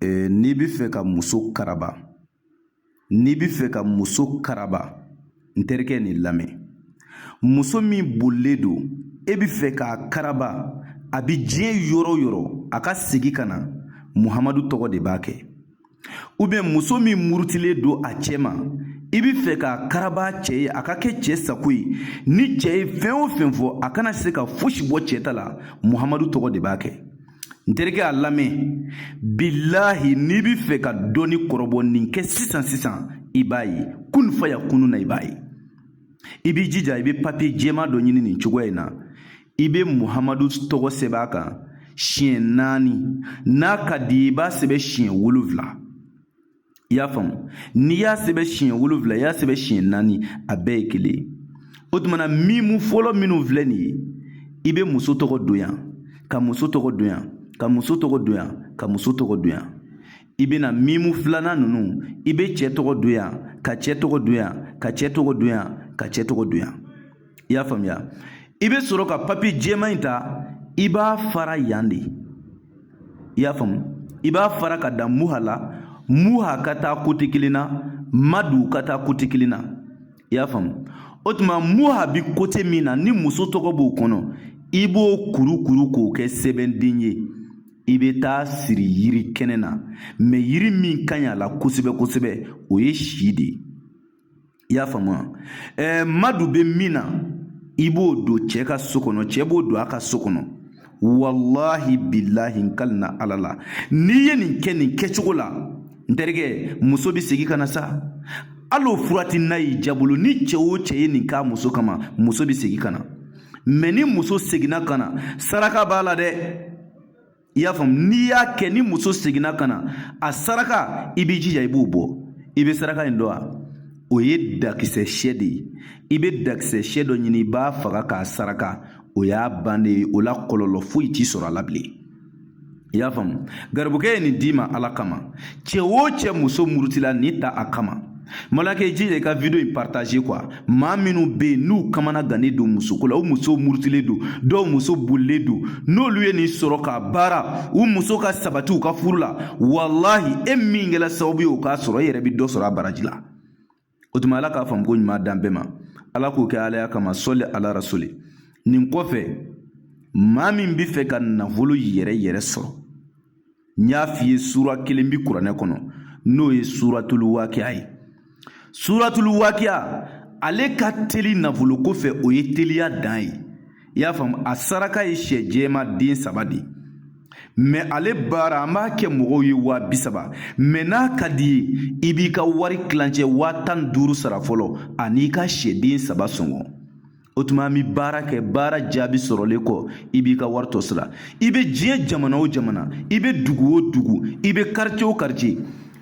ee n'i bɛ fɛ ka muso karaba n'i bɛ fɛ ka muso karaba n terikɛ nin lamɛn muso min bolilen don i bɛ fɛ k'a karaba a bɛ diɲɛ yɔrɔ o yɔrɔ a ka segin ka na muhamadu tɔgɔ de b'a kɛ ubiyɛn muso min murutilen don a cɛ ma i bɛ fɛ k'a karaba cɛ ye a ka kɛ cɛ sago ye ni cɛ ye fɛn o fɛn fɔ a kana se ka fosi bɔ cɛ ta la muhamadu tɔgɔ de b'a kɛ n terikɛ a lamɛn bilahi n'i bɛ fɛ ka dɔnni kɔrɔbɔ nin kɛ sisan sisan i b'a ye kun fayakunu na i b'a ye i b'i jija i bɛ papiye jɛman dɔ ɲini nin cogoya in na i bɛ muhamadu tɔgɔ sɛbɛn a kan siɲɛ naani n'a ka di i b'a sɛbɛn siɲɛ wolonwula i y'a faamu n'i y'a sɛbɛn siɲɛ wolonwula i y'a sɛbɛn siɲɛ naani a bɛɛ ye kelen ye o tuma na mimu fɔlɔ minnu filɛ nin ye i bɛ muso tɔgɔ don yan ka muso tɔgɔ don yan ka muso tɔgɔ don yan ka muso tɔgɔ don yan i bɛ na mimu filanan ninnu i bɛ cɛ tɔgɔ don yan ka cɛ tɔgɔ don yan ka cɛ tɔgɔ don yan ka cɛ tɔgɔ don yan i y'a faamuya i bɛ sɔrɔ ka papiye jɛman in ta i b'a fara yan de i y'a faamu i b'a fara ka dan muha la muha ka taa kote kelen na madu ka taa kote kelen na i y'a faamu o tuma muha bi kote min na ni muso tɔgɔ b'o kɔnɔ i b'o kurukuru k'o kɛ sɛbɛnden ye i bɛ taa siri yiri kɛnɛ na mɛ yiri min ka ɲi a la kosɛbɛ kosɛbɛ o ye si de ye i y'a faamu wa ɛɛ madu bɛ min na i b'o don cɛ ka so kɔnɔ cɛ b'o don a ka so kɔnɔ walahi bilahi n kalina ala la n'i ye nin kɛ nin kɛcogo la n terikɛ muso bɛ segin ka na sa hali o furati n'a y'i jabolo ni cɛ o cɛ ye nin k'a muso kama muso bɛ segin ka na mɛ ni muso seginna ka na saraka b'a la dɛ i y'a faamu n'i y'a kɛ ni muso seginna ka na a saraka i b'i jija i b'o bɔ i bɛ saraka in dɔn wa o ye dakisɛ sɛ de ye i bɛ dakisɛ sɛ dɔ ɲini i b'a faga k'a saraka o y'a bannen ye o la kɔlɔlɔ foyi t'i sɔrɔ a la bilen i y'a faamu garibukɛ ye nin d'i ma ala kama cɛ o cɛ muso murutila nin ta a kama Malakɛ i jija ka video in partage quoi maa minnu bɛ yen n'u kamanagannen don musoko la u musow murutilen don dɔw muso bolilen don n'olu ye nin sɔrɔ k'a baara u muso ka sabati u ka furu la walahi e min kɛra sababu ye o k'a sɔrɔ e yɛrɛ bɛ dɔ sɔrɔ a baraji la o tuma ala k'a faamuko ɲuman d'an bɛɛ ma ala k'o kɛ alaya kama sɔli ala rasuli nin kɔfɛ maa min bɛ fɛ ka nafolo yɛrɛ yɛrɛ sɔrɔ n y'a f'i ye sura kelen bi kuranɛ kɔnɔ n'o ye suratulu wakiya ye suratulu wakiya ale ka teli nafolo ko fɛ o ye teliya dan ye i y'a faamu a saraka ye syɛ jɛman den saba de ye mɛ ale baara an b'a kɛ mɔgɔw ye waa bi saba mɛ n'a ka d'i ye i b'i ka wari tilancɛ waa tan ni duuru sara fɔlɔ an'i ka syɛden saba sɔngɔ o tuma an bɛ baara kɛ baara jaabi sɔrɔlen kɔ i b'i ka wari tɔ sara i bɛ diɲɛ jamana o jamana i bɛ dugu o dugu i bɛ karice o karice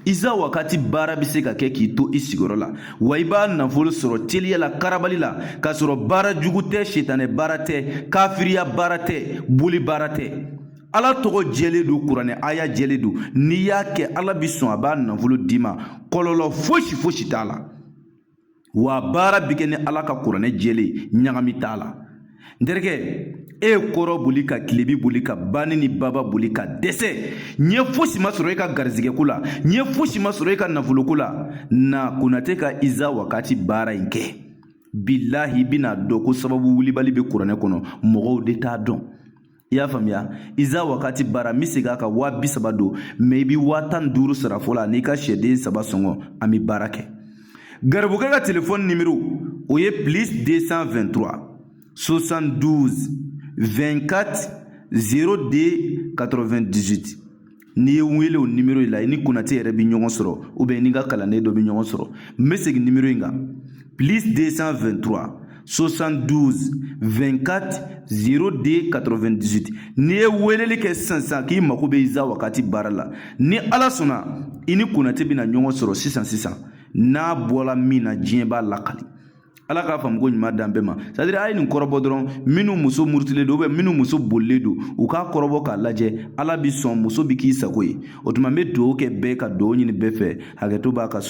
iza wakati baara bɛ se ka kɛ k'i to i sigiyɔrɔ la wa i b'a nafolo sɔrɔ teliya la karabali la k'a sɔrɔ baara jugu tɛ sitanɛ baara tɛ kafiriya baara tɛ boli baara tɛ ala tɔgɔ jɛlen don kuranɛ aya jɛlen don n'i y'a kɛ ala bi sɔn a b'a nafolo d'i ma kɔlɔlɔ fosi fosi t'a la wa baara bɛ kɛ ni ala ka kuranɛ jɛlen ɲagami t'a la n terikɛ e ye kɔrɔn boli ka tilebin boli ka bani ni baba boli ka dɛsɛ ɲɛ fosi ma sɔrɔ e ka garizigɛko la ɲɛ fosi ma sɔrɔ e ka nafoloko la na konate ka iza wakati baara in kɛ bilahi i bɛna dɔn ko sababu wulibali bɛ kuranɛ kɔnɔ mɔgɔw de t'a dɔn i y'a faamuya iza wakati baara n bɛ segin a kan waa bi saba don mɛ i bɛ waa tan ni duuru sara fɔlɔ n'i ka syɛden saba sɔngɔ an bɛ baara kɛ garibukɛ ka telefɔni nimero o ye plus 223 72 24 02 98 n'i ye n wele o nimero in la i ni konate yɛrɛ bɛ ɲɔgɔn sɔrɔ ubiyɛn ni n ka kalanden dɔ bɛ ɲɔgɔn sɔrɔ n bɛ segin nimero in kan plus 223 72 24 02 98 n'i ye weleli kɛ sisan sisan k'i mago bɛ iza wakati baara la ni ala sɔnna i ni konate bɛna ɲɔgɔn sɔrɔ sisan sisan n'a bɔra min na diɲɛ b'a lakali ala ka faamuko ɲuman d'an bɛɛ ma sadiri a ye nin kɔrɔbɔ dɔrɔn minnu muso murutilen don ubiyɛn minnu muso bolilen don u k'a kɔrɔbɔ k'a lajɛ ala bi sɔn muso bi k'i sago ye o tuma n be duwawu kɛ bɛɛ ka duwawu ɲini bɛɛ fɛ hakɛto b'a kan so